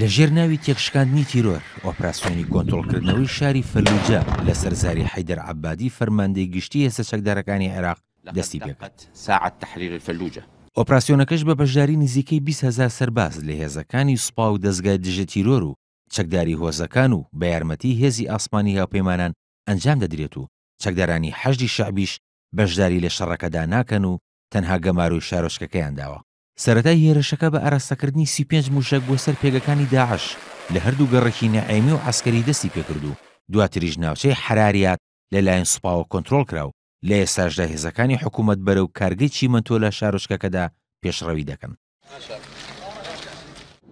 لەژێر ناوی تێکشکاندنی تیرۆر، ئۆپراسیۆنی کۆنترۆڵکردنەوەی شاری فەلوجە لەسەر زاری حەیدەر عەبادی فەرماندەی گشتی هێزە چەکدارەکانی عێراق دەستی پێکرد. ئۆپراسیۆنەکەش بە بەشداری نزیکەی بیست هەزار سەرباز لە هێزەکانی سوپا و دەزگای دژە تیرۆر و چەکداری هۆزەکان و بە یارمەتی هێزی ئاسمانی هاوپەیمانان ئەنجام دەدرێت و چەکدارانی حەشدی شەعبیش بەشداری لە شەڕەکەدا ناکەن و تەنها گەمارۆی شارۆچکەکەیان داوە. سەرەتای هێرشەکە بە ئاراستەکردنی سی و پێنج مووشەک بۆ سەر پێگەکانی داعش لە هەردوو گەڕەکی نەعێمی و عەسکەری دەستی پێکرد و دواتریش ناوچەی حەراریات لەلایەن سوپاوە کۆنترۆڵکرا و لە ئێستاشدا هێزەکانی حکوومەت بەرەو کارگەی چیمەنتۆ لە شارۆچکەکەدا پێشڕەوی دەکەن.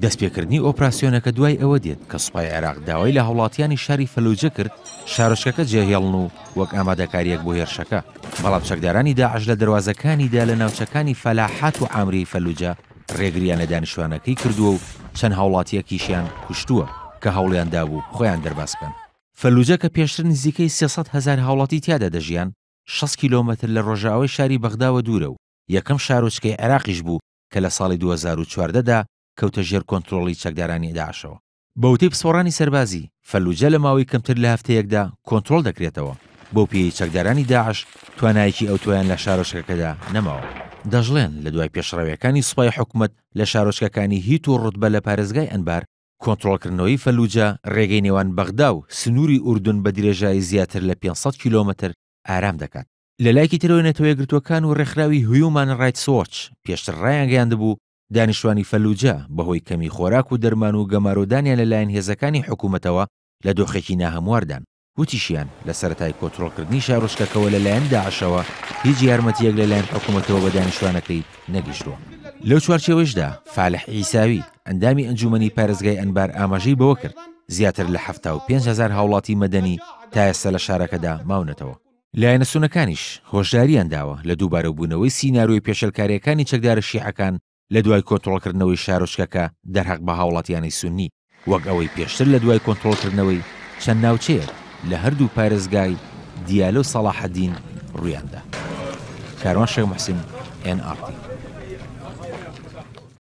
دەستپێکردنی ئۆپراسیۆنەکە دوای ئەوە دێت کە سوپای عێراق داوای لە هاوڵاتیانی شاری فەلوجە کرد شارۆچکەکە جێهێڵن و وەک ئامادەکاریەک بۆ هێرشەکە بەڵام چەکدارانی داعش لە دەواازەکانیدا لە ناوچەکانی فەلاحات و ئامری فەلوجە ڕێگریان لە دانیشتوانەکەی کردووە و چەند هاوڵاتیەکیشیان کوشتووە کە هەوڵیان دابوو خۆیان دەرباز بکەن فەلوجە کە پێشتر نزیکەی سێسەد هەزار هاوڵاتی تیادا دەژیان شەست کیلۆمەتر لە ڕۆژاوای شاری بەغداوە دوورە و یەکەم شارۆچکەی عێراقیش بوو کە لە ساڵی دوو هەزار و چواردە دا کەوتە ژێر کۆنترۆڵی چەکدارانی داعشەوە. بە وتەی پسپۆڕانی سەربازی، فەلوجە لە ماوەی کەمتر لە هەفتەیەکدا کۆنترۆڵ دەکرێتەوە، بەو پێیەی چەکدارانی داعش توانایەکی ئەوتۆیان لە شارۆچکەکەدا نەماوە. دەشڵێن، لە دوای پێشڕەوییەکانی سوپای حکومەت لە شارۆچکەکانی هیت و ڕوتبە لە پارێزگای ئەنبار، کۆنترۆڵکردنەوەی فەلوجە ڕێگەی نێوان بەغدا و سنووری ئوردن بە درێژایی زیاتر لە پێنج سەد کیلۆمەتر ئارام دەکات. لە لایکی ترەوەی نەتەوەیەکگرتووەکان و ڕێکخراوی هیومان ڕایتس وۆچ پێشتر ڕایانگەیاندبوو دانیشتوانی فەلوجە بەهۆی کەمی خۆراک و دەرمان و گەمارۆدانیان لەلایەن هێزەکانی حکوومەتەوە لە دۆخێکی ناهەمواردان. وتیشیان، لە سەرەتای کۆترۆڵکردنی شارۆچکەکەوە لەلایەن داعشەوە هیچ یارمەتییەک لەلایەن حکوومەتەوە بە دانیشتوانەکەی نەگەیشتووە. لەو چوارچێوەیشدا فالح عیساوی، ئەندامی ئەنجوومەنی پارێزگای ئەنبار ئاماژەی بەوە کرد، زیاتر لە حەفتا و پێنج هەزار هاوڵاتی مەدەنی تا ئێستا لە شارەکەدا ماونەتەوە. لایەنە سونەکانیش هۆشدارییان داوە لە دووبارەبوونەوەی سینارۆی پێشێلکارییەکانی چەکدارە شیعەکان لە دوای کۆنترۆڵکردنەوەی شارۆچکەکە دەرهەق بە هاوڵاتیانی سوننی، وەک ئەوەی پێشتر لە دوای کۆنترۆڵکردنەوەی چەند ناوچەیەک لە هەردوو پارێزگای دیالە و سەڵاحەدین ڕوویاندا. کاروان شێخ موحسین، ئێن ئاڕ تی.